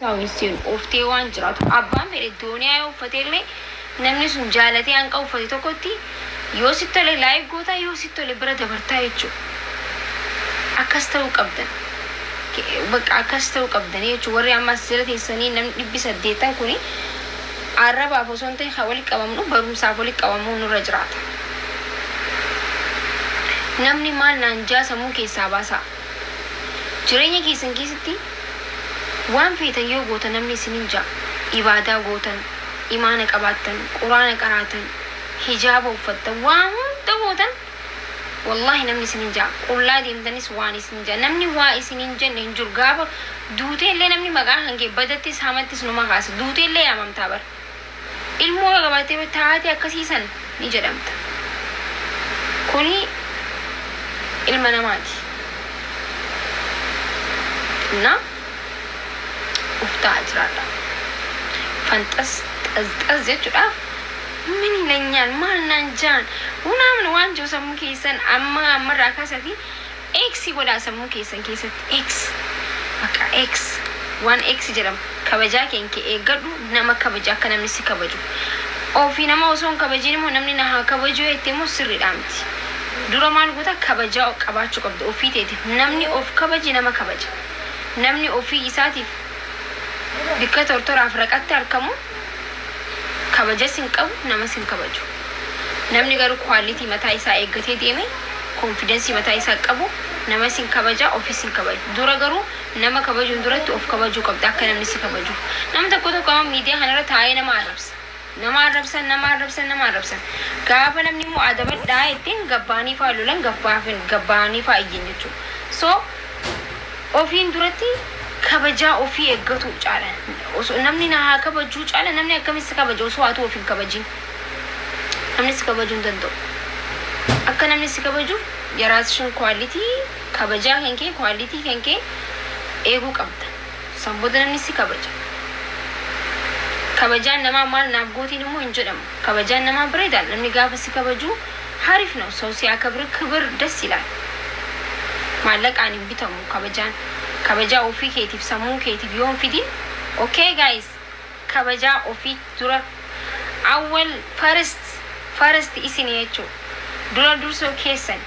Aawunsiin uwviftee waan jiraatuuf abbaan fedhe dooniyaa yoo uffatee illee namni sun jaalatee hanqa uffate tokkotti yoo sitti tole like gootaa yoo sitti tole bira dabartaa jechuudha. Akkas ta'uu qabdan. Ke- Bakka akkas ta'uu qabdanii jechuudha. Warri amma as jala teessanii namni dhibbi saddeettan kuni arrabaaf osoo hin ta'in kan walitti qabamnu barumsaaf walitti qabamuu nurra jiraata. Namni maal naan jaa sammuu keessaa baasaa. Jireenya keessan keessatti waan feetan yoo gootan namni isiniin ja'a, ibaadaa gootan, imaana qabaattan, quraana qaraatan, hijaaba uffattan, waa hunda gootan wallaahi namni isiniin ja'a. Qullaa deemtanis waan isiniin ja'a. Namni waa isiniin jenne hin jiru. Gaafa duuteellee namni maqaa kan kee badattis hamattis numa kaasa. Duuteellee yaamamtaa bar. ilmoo yoo qabaatte taate akkasii san ni jedhamta. Kuni ilma namaati. Innaa uf ta'aa jiraadha. Fanxas xaz xaz jechuudhaaf min ilanyaan maal naan jaan unaamn waan jiru sammuu keessan amma ammarraa kaasatii X godhaa sammuu keessan keessatti X bakka X waan X jedhamu kabajaa kee kee eeggadhu nama kabaji akka namni si kabaju Ofii nama osoo hin kabajiin immoo namni na haa kabajuu jettee immoo sirriidhaa miti Dura maal goota kabajaa qabaachuu qabda ofii teetiif namni of kabaje nama kabaja namni ofii isaatiif bikka tortoraaf raqatti harkamu Kabajas hin qabu, namas hin kabaju. Namni garuu quality mataa isaa eeggatee deeme, confidence mataa isaa qabu, namas hin kabaja, ofis hin kabaju. Dura garuu nama kabajuun duratti of kabajuu qabda akka namni si kabajuuf. Namni tokko tokko amma miidiyaa kanarra taa'ee nama arrabsa. Nama arrabsan, nama arrabsan, nama arrabsan. Gaafa namni immoo adabadhaa jetteen gabbaanii fa'aa lolan, gabbaa- gabbaanii fa'aa iyyan jechuudha. So Ofiin duratti kabajaa ofii eggatu caala. Osoo namni na haa kabajuu caala namni akkamitti si kabaja osoo atuu of hin kabajin. Namni si kabajuu hin danda'u. Akka namni si kabajuuf yaraasishin kwaalitii kabajaa kan kee kwaalitii kan kee eeguu qabda. San booda namni si kabaja. Kabajaan namaa maal naaf gootiin immoo hin jedhamu. Kabajaan namaa bareedaal namni gaafa si kabaju harif now saw si akabir kibir das ilaal maallaqaan hin bitamu kabajaan kabajaa ofii keetiif sammuu keetiif yoo hin fidin ok guys kabajaa ofii dura awwal first first isini jechuu dura dursoo keessan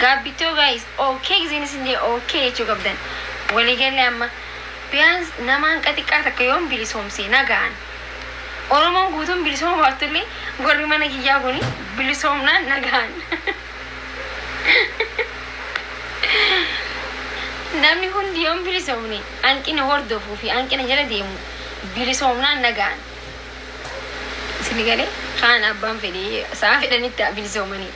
Gaabbitoo guys ok gizeen isin jee ok jechuu qabdan walii galle amma biyaans nama hanqa xiqqaa takka yoon bilisoomse nagaan oromoon guutuun bilisooma baattullee warri mana kiyyaa kuni bilisoomnaan nagaan namni hundi yoon bilisoomne hanqina hordofuu fi hanqina jala deemu bilisoomnaan nagaan isin galee kaan abbaan fedhee sa'a fedhanitti bilisoomanii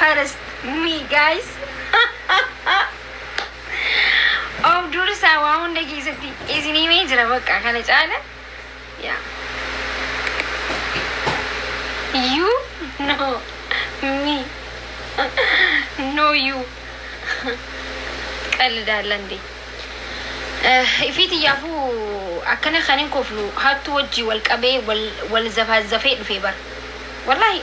first me guys of dursaa waa hunda keessatti isin himee jira bakka kana caala yaa you know me know you qalidaalan dee ifiit iyyaafuu akkana kan hin koflu hattuu wajjii wal qabee wal wal zafaazafee dhufee bara wallahi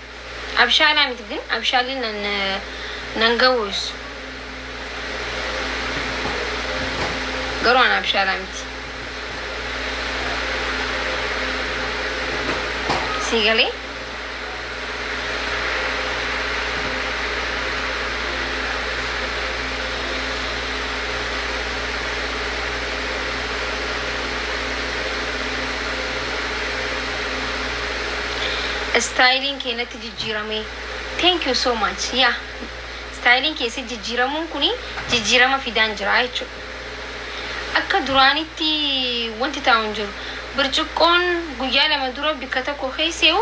Abshaalaa miti gin abshaalli nan nan gawus garuu an abshaalaa miti sii galee Istaayiliin kee natti jijjiiramee. Thank you so much. Yeah. Istaayiliin kee sitti jijjiiramuun kuni jijjiirama fidaan jira jechuudha. Akka duraanitti wanti taa'u hin jiru. Birciqqoon guyyaa lama dura bikka tokko keesseeyu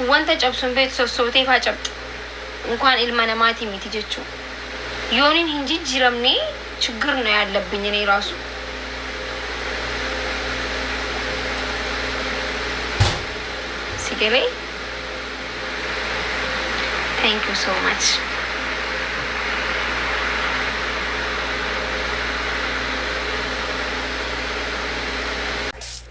wanta cabsu hin beektu sossootee faa cabxi. Unkaan ilma namaatii miti jechuudha. Yoonin hin jijjiramne chiggir no yaallabbiñ inii raasu. Si galee? Thank you so much.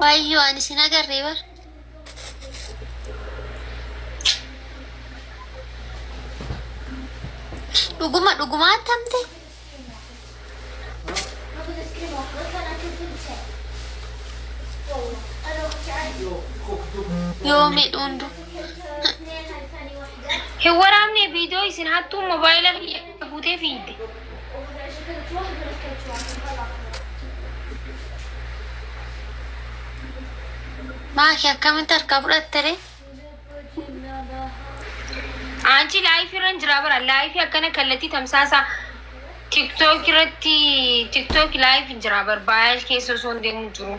Wayyoo ani sin agarree bar. Dhuguma dhuguma attamte. Yoo midhuundu. Hin waraabne viidiyoo isin hattuu mobaayila kiyya. guutee fiigde. Maaki akkamitti harkaa fudhatte ree? Anchi laayifii irra hin jiraa bara laayifii akkana kallattii tamsaasa tiktook irratti tiktook laayif hin jiraa bara baayal keessa osoo hin deemu jiru.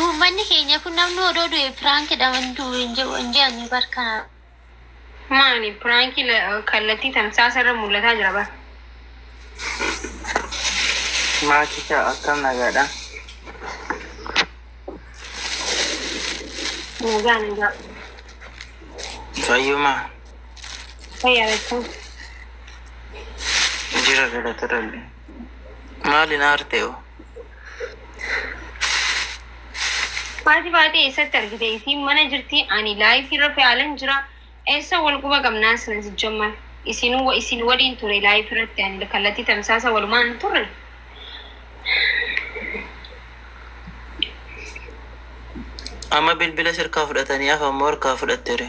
Uummanni keenya kun namni odoo du'e piraankidha man du'u hin jiru hin jedhanii bar kana. Maani piraankii la- kallattii tamsaasa irra mul'ataa jira bara. Maakicha akkam nagaadha? Nagaa nagaa. Fayyuma. Fayyaa beektaa. Jira galata rabbi. Maali na arte hoo? Haati baatee eessatti argite isiin mana jirti ani laayifii irra fe'aalan jira eessa wal quba qabnaa sina sijjamma isin wa- isin waliin ture laayifii irratti ani kallattii tamsaasa walumaan hin turre Amma bilbila sirkaa fudhatanii afaan moo harkaa fudhattere?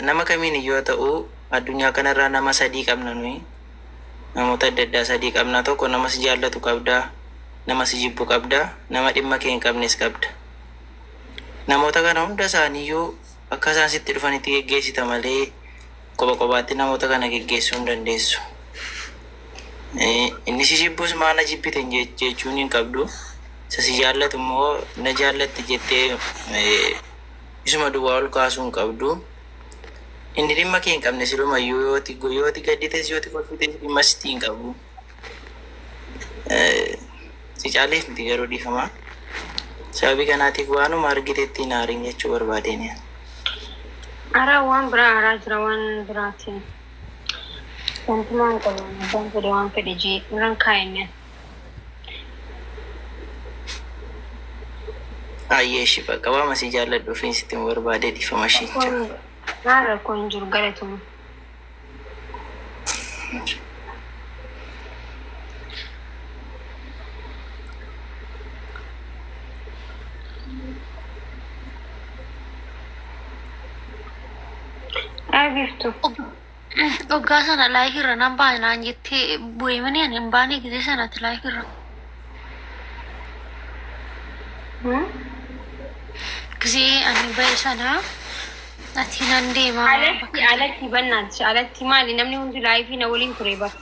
Nama kamiin iyyuu haa ta'uu addunyaa kana irraa nama sadii qabna nuyi. Namoota adda addaa sadii qabna. Tokko nama si jaallatu qabda, nama si jibbu qabda, nama dhimma kee hin qabnes qabda. Namoota kana hunda isaanii iyyuu akka isaan sitti dhufanitti geggeessita malee kopha kophaatti namoota kana geggeessuu hin dandeessu. Eh, Inni si jibbus maa na jibbite hin je- jechuun hin qabdu. Isa si jaallatu immoo na jaallatte jettee eh, isuma duwwaa ol kaasuu hin qabdu. Inni dhimma kee hin qabne siluma iyyuu yoo ati yoo ati gaddites yoo ati kolfites dhimma sitti hin qabu. Eh, Si caaleef miti garuu dhiifama. Sababii kanaatiif waanuma argitetti hin aarin jechuu barbaadeen. Ara waan biraa aaraa jira waan biraatiin. Wantumaa hin qabu. Abbaan fedhe waan fedhe jee irran kaa'inne. Ayyee ishii bakka waama si jaalladhu fi sitti hin barbaadee dhiifama ishii jira. Rakkoon maal rakkoo hin jiru galatoomi. Ayi biftu. Dhoggaa sana live irra nan baane naan jettee bu'ee mini ani hin baane gisee sanatti live irra. Gisee ani ba'e sana ati nan deema. Alatti alatti bannaati alatti maali namni hundi laayifii na waliin ture bar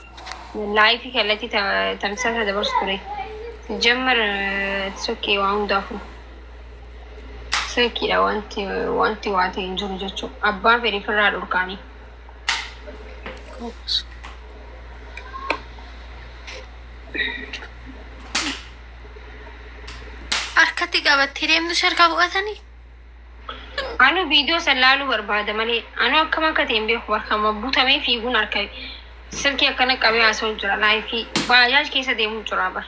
laayifii kallattii tamsaasa dabarsu ture jamar sokkee waa hundaafuu. Fakkiidha wanti wanti waa ta'e hin jiru jechuudha. Abbaa fedhe firraa dhorkaanii. Harkatti qabattee deemtu si harkaa fudhatanii? Anu viidiyoo san laaluu barbaada malee anu akkam akka ta'e hin beeku barkama butamee fiiguun harka silkii akkana qabee haasa'u jira laayifii baajaaj keessa deemuu jira bara.